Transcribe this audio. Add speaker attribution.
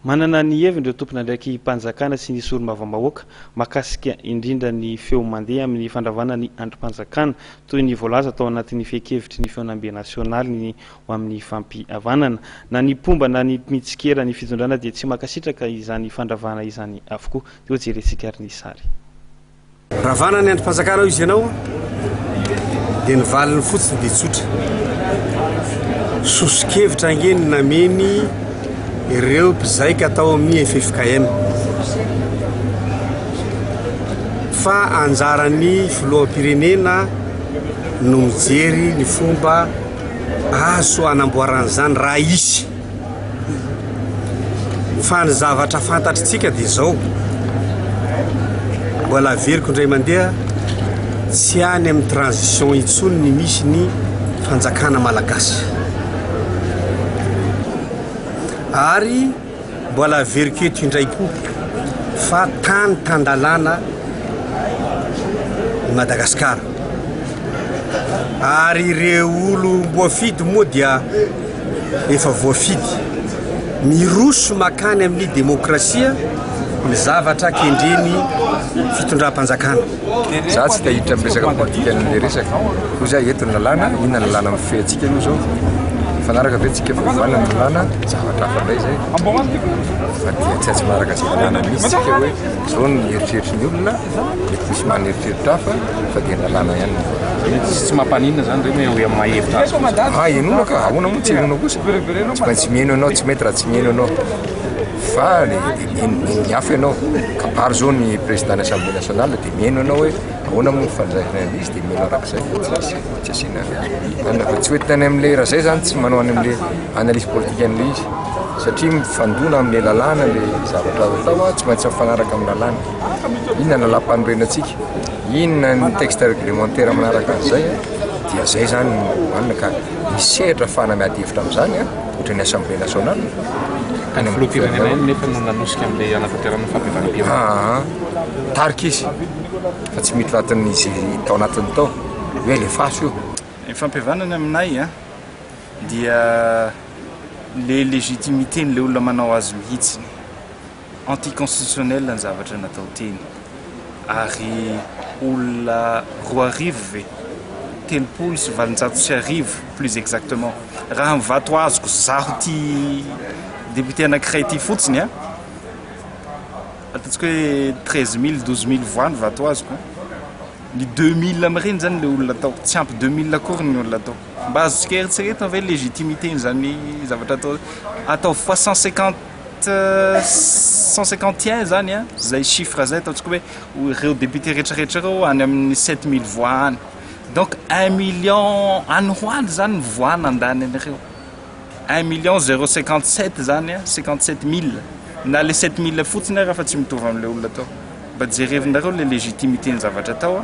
Speaker 1: Manana ny heviny ireo tompon'andraiki-panjakana sy ny sori-mavambahoaka mahakasika indrindra ny feo mandeha amin'ny fandravana ny andrim-panjakana, toy ny voalaza tao anatin'ny fehin-kevitry ny Feonambe Nasionaly ny ho amin'ny fampihavanana. Na ny mpomba na ny mpitsikera ny fitondrana dia tsy mankasitraka izany fandravana izany avokoa. Toa jerentsika ary ny sary.
Speaker 2: Ravana ny andrim-panjakana ao izy ianao dia ny valiny fotsiny dia tsotra. Soso-kevitra ange ny nameny ireo mpizaika tao amin'ny FFKM. Fa anjaran'ny filoham-pirenena no mijery ny fomba azo anamboaran'izany raha hisy. Fa ny zavatra fantatritsika dia izao, mbola averiko indray mandeha, tsy any amin'ny transition intsony ny misy ny fanjakana malagasy. Ary mbola averiko eto indray koa fa tany tan-dalàna i Madagasikara. Ary ireo olom-boafidy moa dia efa voafidy. Miroso makany amin'ny demokrasia ny zavatra kendren'ny fitondram-panjakana. Za
Speaker 3: tsy tahiditra amin'ny resaka politika an'ilay resaka. Hoy za eto ny lalàna, inona ny lalàna mifehy antsika aloha zao? Mifanaraka ve antsika fa ovaina ny lalàna? Zavatra hafa indray zay. Fa dia tsy atsy manaraka izay lalàna misy isika hoe zao ny eritreritry ny olona, mety misy maha an'eritreritra hafa. fa dia lalàna ihany ny vola. Tsy mampaninona
Speaker 4: izany re hoe amin'ny maha hevitra azy kosa. Ah, henoina ka, ahoana moa tsy
Speaker 3: henoina kosa? Tsy maintsy miheno ianao, tsy mety raha tsy miheno ianao. Fa le dia miheno miheno ny hafa ianao. Kabary izao ny président-n'ny Assemblée nationale dia miheno ianao hoe ahoana moa ny fandraisana an'izy dia miheno arak'izay fa tsy misy tsy asiana anona fa tsy ho entina any amin'ilay raha izay izany tsy manao any amin'ilay analyse politique an'ilay izy satria mifandona amin'ilay lalàna ilay zavatra atao a, tsy maintsy mifanaraka amin'ny lalàna. Inona ny lalàmpanorenantsika? Inona ny texte réglementaire manaraka an'izay? Dia izay izany no hohanina ka misy sehatra afahana miady hevitra amin'izany ohatra ny Assemblée nationale. Any amin'ny
Speaker 4: filoham-pirenena ihany nefa no nanosika an'ilay hanatanterahana ny fahabevanam-pirenena. Aa, tarika
Speaker 3: izy fa tsy miditra anatin'izy tao anatiny tao hoe alefaso io. Ny fampihavanana
Speaker 5: aminay dia ilay légitimité-n'ilay olona manao azy mihitsy. Anti constitutionnel ny zavatra natao teny ary olona roa arivo ve? telopolo sy valonjato sy arivo plus exactement raha ny vato azoko zaho ty député anakiray ty fotsiny a! ataontsika hoe treize mille, douze mille voix ny vato azoko a! ny deux mille amin'ireny zany le olona atao tsy ampy deux mille akory ny olona atao mba azontsika eritreretina ve ny légitimité n'izany zavatra atao ataovy fois cent cinquante. cent cinquante et un zany a zay chiffre zay ataontsika hoe ireo députés retraretra ireo any amin'ny sept mille voix any donc un million any ho any zany ny voix nandany an'ireo un million zero cinquante sept zany a cinquante sept mille na le sept mille fotsiny ary fa tsy mitovy amin'ilay olona atao mba jerevinareo le légitimité ny zavatra atao a